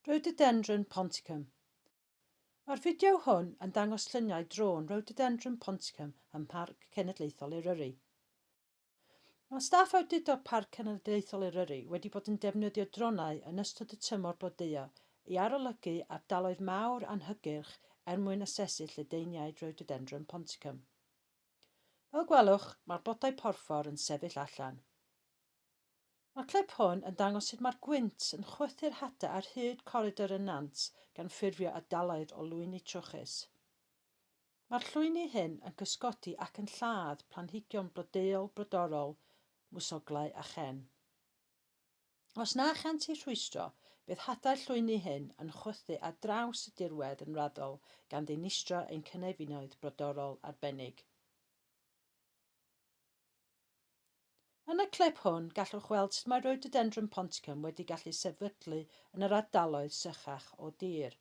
Rhododendron ponticum Mae'r fideo hwn yn dangos lluniau drôn Rhododendron ponticum ym Mharc Cenedlaethol Eryri. Mae staff awdurdod Parc Cenedlaethol Eryri wedi bod yn defnyddio dronau yn ystod y tymor blodeuo i arolygu ardaloedd mawr anhygyrch er mwyn asesu lledaeniaid Rhododendron ponticum. Fel gwelwch, mae'r blodau porffor yn sefyll allan. Mae'r clip hwn yn dangos sut mae'r gwynt yn chwythu'r hadau ar hyd coridor y nant gan ffurfio ardaloedd o lwyni trwchus. Mae'r llwyni hyn yn cysgodi ac yn lladd planhigion blodeuol brodorol, mwsoglau a chên. Os na chânt eu rhwystro, bydd hadau'r llwyni hyn yn chwythu ar draws y dirwedd yn raddol gan ddinistrio ein cynefinoedd brodorol arbennig. Yn y clip hwn, gallwch weld sut mae Rhododendron ponticum wedi gallu sefydlu yn yr ardaloedd sychach o dir.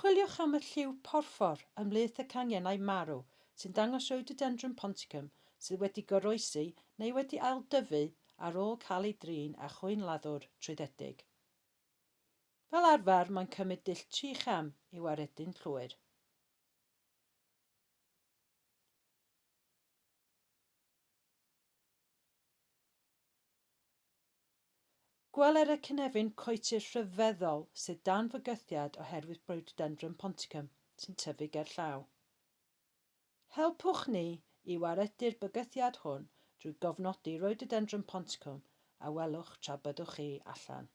Chwiliwch am y lliw porffor ymhlith y canghennau marw sy'n dangos Rhododendron ponticum sydd wedi goroesi neu wedi ailddyfu ar ôl cael ei drin â chwyn laddwr trwyddedig. Fel arfer, mae'n cymryd dull tri cham i'w aredu'n llwyr. Gweler y cynefin coetir rhyfeddol sydd dan fygythiad oherwydd Rhododendron ponticum sy'n tyfu gerllaw. Helpwch ni i waredu'r bygythiad hwn drwy gofnodi Rhododendron ponticum a welwch tra byddwch chi allan.